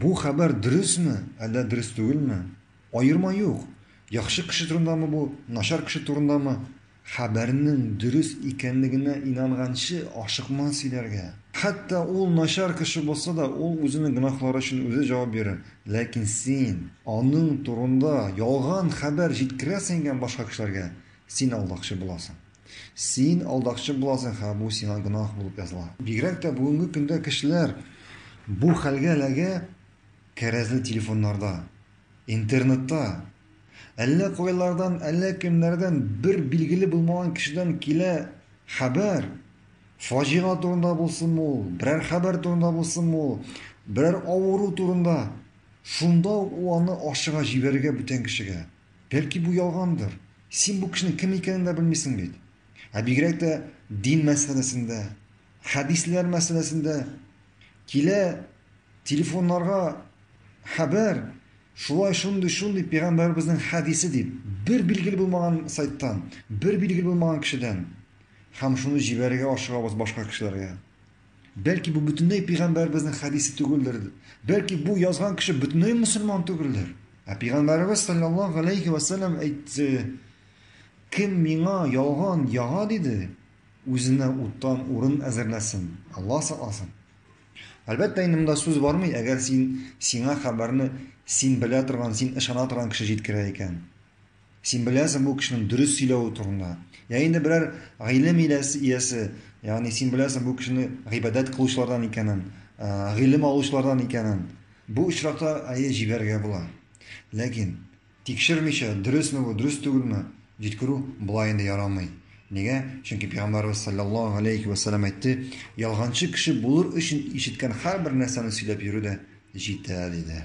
Бу хәбәр дөресме, әллә дөрес түгелме, аерма юк, яхшы кеше турындамы бу, начар кеше турындамы, хәбәрнең дөрес икәнлегенә инанганчы ашыкма сөйләргә. Хәтта ул начар кеше булса да, ул үзенең гөнаһлары өчен үзе җавап бирер. Ләкин син аның турында ялган хәбәр җиткерәсең икән башка кешеләргә, син алдакчы буласың. Син алдакчы буласың һәм бу сиңа гөнаһ булып языла. Бигрәк тә бүгенге көндә кешеләр бу хәлгә эләгә кәрәзле телефоннарда, интернетта. Әллә кайлардан, әллә кемнәрдән бер билгеле булмаган кешедән килә хәбәр. Фаҗига турында булсынмы ул, берәр хәбәр турында булсынмы ул, берәр авыру турында. Шунда ук ул аны ашыга җибәрергә бүтән кешегә. Бәлки бу ялгандыр? Син бу кешенең кем икәнен дә белмисең бит. Ә бигрәк тә дин мәсьәләсендә, хәдисләр мәсьәләсендә килә телефоннарга хәбәр шулай шундый шундый пәйгамбәребезнең хәдисе дип бер билгеле булмаган сайттан, бер билгеле булмаган кешедән һәм шуны җибәрергә ашыгабыз башка кешеләргә. Бәлки бу бөтенләй пигамбәребезнең хәдисе түгелдер. Бәлки бу язган кеше бөтенләй мусульман түгелдер. Ә пигамбәребез саллаллаһу алейхи ва саллям әйтте: "Кем миңа ялган яга диде, үзенә уттан урын әзерләсен, Аллаһ сакласын". Әлбәттә, инде монда сүз бармый, әгәр син сиңа хәбәрне син белә торган, син ышана торган кеше җиткерә икән. Син беләсең бу кешенең дөрес сөйләве турында. Я инде берәр гыйлем иләсе иясе, ягъни син беләсең бу кешене гыйбадәт кылучылардан икәнен, гыйлем алучылардан икәнен. Бу очракта әйе җибәрергә була. Ләкин тикшермичә, дөресме бу, дөрес түгелме, җиткерү болай инде ярамый. Нигә? Чөнки пәйгамбәрбез салләллаһу галәйһи вә сәлләм әйтте, ялганчы кеше булыр өчен ишеткән һәрбер нәрсәне сөйләп йөрү дә җитә, диде.